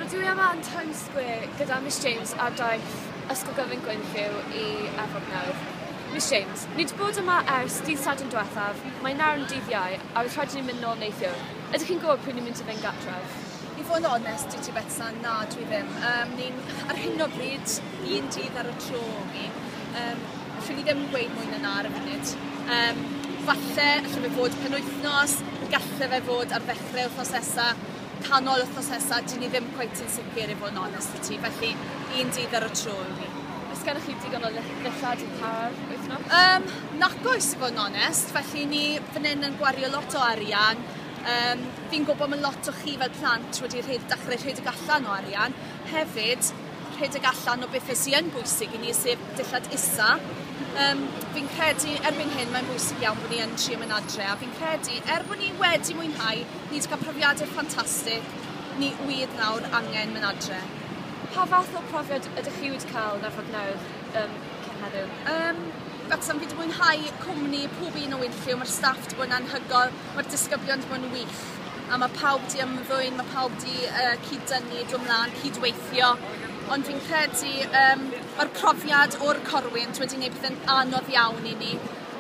Rydw i yma yn Times Square gyda Miss James ar daith Ysgol Gyfun Gwenlliw i Efrog nawr. Miss James, ni wedi bod yma ers dydd Sadwrn diwethaf, mae nawr yn dydd Iau a roedd rhaid i ni mynd nôl neithiwr. Ydych chi'n gwybod pryd ni'n mynd i fynd gartref? I fod yn onest 'da ti Betsan, na dwi ddim. Yym ni'n ar hyn o bryd un dydd ar y tro o'n i. Yym allwn ni ddim gweud mwy na na ar y funud. Yym falle allwn fe fod penwythnos, galle fe fod ar ddechrau wythnos nesa. canol wthnos nesa, dyn ni ddim cweit yn sicr i fod yn onest 'da ti, felly un dydd ar y tro yw hi. Oes gennych chi digon o ddillad i ta'r wythnos? Um, nac oes i fod yn onest, felly ni fan hyn yn gwario lot o arian. Um, fi'n gwybod mae lot o chi fel plant wedi rhed, dechrau rhedeg allan o arian. Hefyd, rhedeg allan o bethau sy'n yn bwysig i ni, sef dillad isa. Um, fi'n credu, erbyn hyn, mae'n bwysig iawn bod ni yn trio mynd adre, a fi'n credu, er bod ni wedi mwynhau Ni wedi cael profiadau ffantastig, ni wyed nawr angen mynd adre. Pa fath o profiad ydych chi wedi cael yn Arfog Newydd um, cyn heddiw? Um, Wrecsam, fi wedi mwynhau cwmni pob un o Winfrey, mae'r staff wedi bod yn anhygoel, mae'r disgyblion wedi bod yn wych, a mae pawb wedi ymddwyn, mae pawb wedi uh, cyd-dynnu, dod mlaen, cyd-weithio, ond fi'n credu um, mae'r profiad o'r corwynt wedi gwneud pethau'n anodd iawn i ni,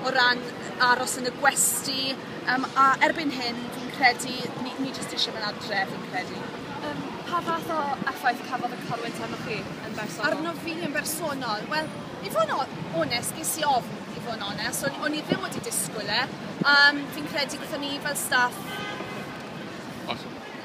o ran aros yn y gwesty yym a erbyn hyn fi'n credu ni ni jyst isie myn' adre fi'n credu. Yym pa fath o effaith cafodd y corwynt arnoch chi yn bersonol? Arnof fi yn bersonol? Wel i fo' yn o- onest ges i ofn i fo' yn onest o'n o'n i ddim wedi disgwl e a yym fi'n credu byddwn ni fel staff